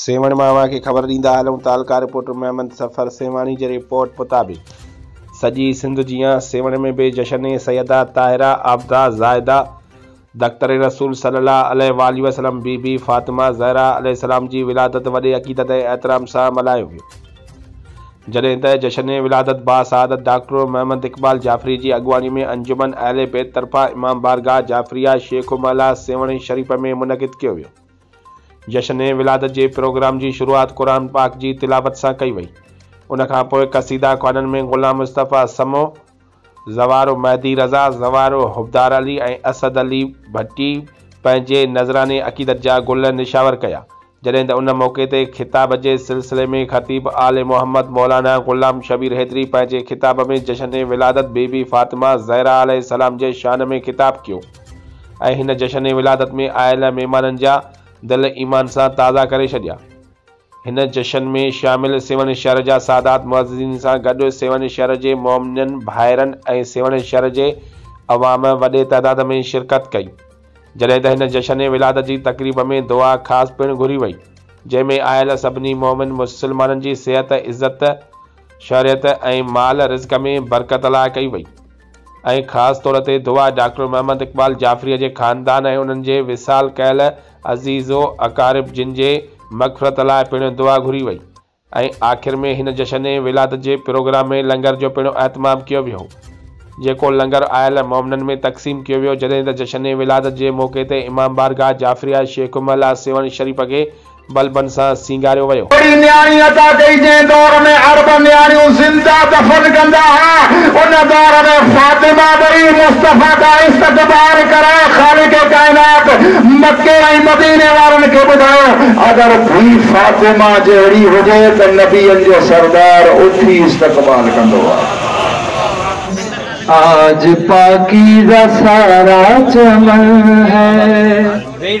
سيوهڻ مان اوهان کي خبر ڏيندا هلون ته الڪا رپورٽر محمد سفر سيوهاڻي جي رپورٽ مطابق سڄي سنڌ جيان سيوهڻ ۾ به جشن سيده طاهره عابده زاهده دختر رسول صلي الله عليه واٰله وسلم بي بي فاطمه زهره عليه السلام جي ولادت وڏي عقيدت ۽ احترام سان ملهايو ويو جڏهن ته جشن ولادت با سعادت ڊاڪٽر محمد اقبال جعفري جي اڳواڻي ۾ انجمن اهل بيت طرفان امام بارگاهه جعفريه شيخ محلا سيوهڻ شريف ۾ منعقد ڪيو ويو. جشن ولادت جي پروگرام جي شروعات قرآن پاڪ جي تلاوت سان ڪئي وئي. ان کان پوء قصيده خوانن ۾ غلام مصطفيٰ سمو، زوارو مهدي رضا، زوارو حبدار علي ۽ اسد علي ڀٽي پنهنجي نذراني عقيدت جا گل نشاور ڪيا. جڏهن ته ان موقعي تي خطاب جي سلسلي ۾ خطيب آل محمد مولانا غلام شبير حيدري پنهنجي خطاب ۾ جشن ولادت بي بي فاطمه زهره عليه السلام جي شان ۾ خطاب ڪيو. ۽ هن جشن ولادت ۾ آيل مهمانن جا دل ايمان سان تازا ڪري ڇڏيا. هن جشن ۾ شامل سيوهڻ شهر جا سادات معززين سان گڏ سيوهڻ شهر جي مومنن ڀائرن ۽ سيوهڻ شهر جي عوام وڏي تعداد ۾ شرڪت ڪئي جڏهن ته هن جشن ولادت جي تقريب ۾ دعا خاص پڻ گهري وئي جنهن ۾ آيل سڀني مومن مسلمانن جي صحت عزت شهريت ۽ مال رزق ۾ برڪت لاء ڪئي وئي. ۽ خاص طور تي دعا ڊاڪٽر محمد اقبال جعفريء جي خاندان ۽ انهن جي وصال ڪيل عزيز و اقارب جن جي مغفرت لاء پڻ دعا گهري وئي ۽ آخر ۾ هن جشن ولادت جي پروگرام ۾ لنگر جو پڻ اهتمام ڪيو ويو جيڪو لنگر آيل مومنن ۾ تقسيم ڪيو ويو جڏهن ته جشن ولادت جي موقعي تي امام بارگاهه جعفريه شيخ امه الله سيوهڻ شريف کي بلبن سان سينگاريو ويو. اهڙي نياڻي عطا ڪئي جنهن دور ۾ عرب نياڻيون زنده دفن ڪندا ها، ان دور ۾ فاطمه ٻئي مصطفيٰ دا استقبال ڪرائي خالق ڪائنات مڪي ۽ مديني وارن کي ٻڌايو، اگر ڌي فاطمه جهڙي هجي ته نبين جو سردار اٿي استقبال ڪندو ها. آج پاڪيزه سارا چمن هي.